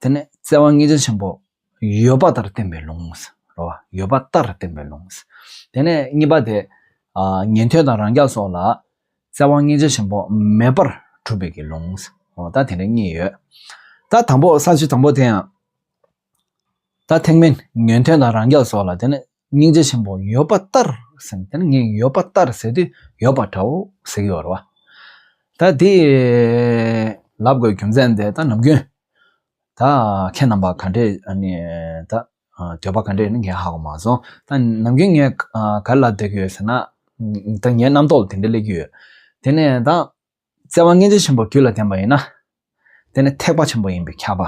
དེ་ནས་བརྩེ་བ་ངེས་འབྱེད་ཆེན་པོ། ཡོད་པ་ལྟར་བསྟན་པའི་ལུང། ཡོད་པ་ལྟར་བསྟན་པའི་ལུང། དེ་ནས་གཉིས་པ་དེ། ཉན་ཐོས་དང་རང་རྒྱགས་སོགས་ལ། བརྩེ་བ་ངེས་འབྱེད་ཆེན་པོ་མེད་པར་གྲུབ་པའི་ལུང། ད་དེ་འདྲ་གཉིས་ཡོད། ད་དང་པོ་ས་བཅུ་དང་པོ་དེ་ཡང། ད་ཐེངས་མིན་ཉོན་ཐོས་དང་རང་རྒྱལ་སོགས་ལ་དེ་ནི་སྙིང་རྗེ་ཆེན་པོ་ཡོད་པ་ལྟར་ཟེར་དེ་ནི་ངས་ཡོད་པ་ལྟར་ཟེར་དུས་ཡོད་པ་འདྲ་བོ་ཟེར་གྱི་ཡོད་རེད་བ། ད་དེ་ལབ་དགོས་རྒྱུ་མཚན་དེ་ད་ནམ་རྒྱུན་ད་ཁྱེད་རྣམ་པ་ག་འདྲས་ནི་ད་འདོད་པ་ག་འདྲས་ནི་ངས་ཧ་གོ་མ་སོང་ད་ནམ་རྒྱུན་ངས་ག་ལབ་བསྡད་ཀྱི་ཡོད་ཟེར་ན་ད་ངའི་རྣམ་རྟོག་ལ་དེ་འདྲ་སླེབས་ཀྱི་ཡོད་དེ་ནས་ད། བརྩེ་བ་སྔས་འབྱེད་ཆེན་པོ་རྒྱུད་ལ་བསྟན་པ་ཡིན་ན། དེ་ནི་ཐེག་པ་ཆེན་པོ་ཡིན་པས་ཁྱབ་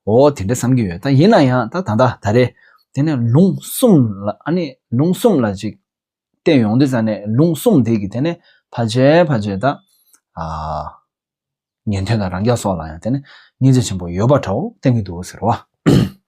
པའོ། དེ་འདྲ་བསམ་གྱི་ཡོད་ད་ཡིན་ན་ཡང་ད་ད་ད་ད་རེད་དེ་ནས་ལུང་གསུམ་ལ་ཨ་ནི་ལུང་གསུམ་ལ་ཅིག་བསྟན་ཡོང་དུས་ད་ནས་ལུང་གསུམ་དེ་གི་དེ་ནས་ཕ་རྗེས་ཕ་རྗེས་ད། ཉན་ཐོས་དང་རང་རྒྱལ་སོགས་ལ་ཡང་དེ་ནས་སྔས་འབྱེད་ཆེན་པོ་ཡོད་པ་འདྲའོ་བསྟན་གྱི་འདུག་ཟེར་རོ།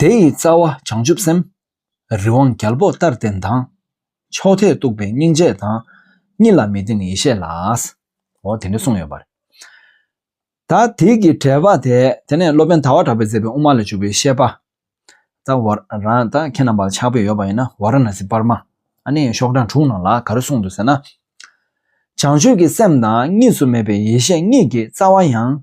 དེ་ཡི་རྩ་བ་བྱང་ཆུབ་སེམས། རི་དབང་རྒྱལ་པོ་ལྟར་བརྟན་དང། མཆོག་ཐེག་གཏུགས་པའི་སྙིང་རྗེ་དང། གཉིས་ལ་མི་ལྡན་ཡེ་ཤེས་ལ། འོ་དེ་འདྲ་གསུངས་ཡོད་པ་རེད། ད་དེ་གི་འགྲེལ་པ་དེ་དེ་ནས་སློབ་དཔོན་ད་བར་གྲགས་པའི་མཛད་པའི་དབུ་མ་ལས་འཇུག་པའི་བཤད་པ། ད་བར་རང་ད་ཁྱེད་རྣམས་པར་ཆགས་པས་ཡོད་པ་ཡིན་ན་བ་ར་ན་སི་སྤར་མ་ཨ་ནེའི་ཤོག་གྲངས་དྲུག་ནང་ལ་ག་རེ་གསུངས་འདུག་ཟེར་ན། བྱང་ཆུབ་ཀྱི་སེམས་དང་གཉིས་སུ་མེད་པའི་ཡེ་ཤེས་གཉིས་ཀྱི་རྩ་བ་ཡང་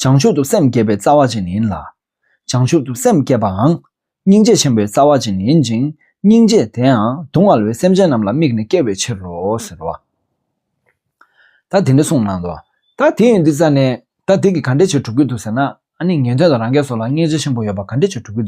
བྱང་ཆུབ་ཏུ་སེམས་བསྐྱེད་པའི་རྩ་བ་ཅན་ཡིན་ལ། བྱང་ཆུབ་ཏུ་སེམས་བསྐྱེད་པའང་སྙིང་རྗེ་ཆེན་པོའི་རྩ་བ་ཅན་ཡིན་ཅིང་སྙིང་རྗེ་དེའང་སྡུག་བསྔལ་བའི་སེམས་ཅན་རྣམས་ལ་དམིགས་ནས་བསྐྱེད་པའི་ཕྱིར་རོ། ཟེར་རོ། ད་དེ་འདྲ་གསུངས་གནང་དོ། ད་དེ་ཡོད་འདི་ཙ་ནས། ད་དེ་གི་ག་འདྲས་བྱས་གྲུབ་ཀྱི་འདུག་ཟེར་ན། ཨ་ནི་ངན་དོན་དང་རང་གས་སོགས་ལ་སྙིང་རྗེ་ཆེན་པོ་ཡོད་པ་ག་འདྲས་བྱས་གྲུབ་ཀྱི་འདུག།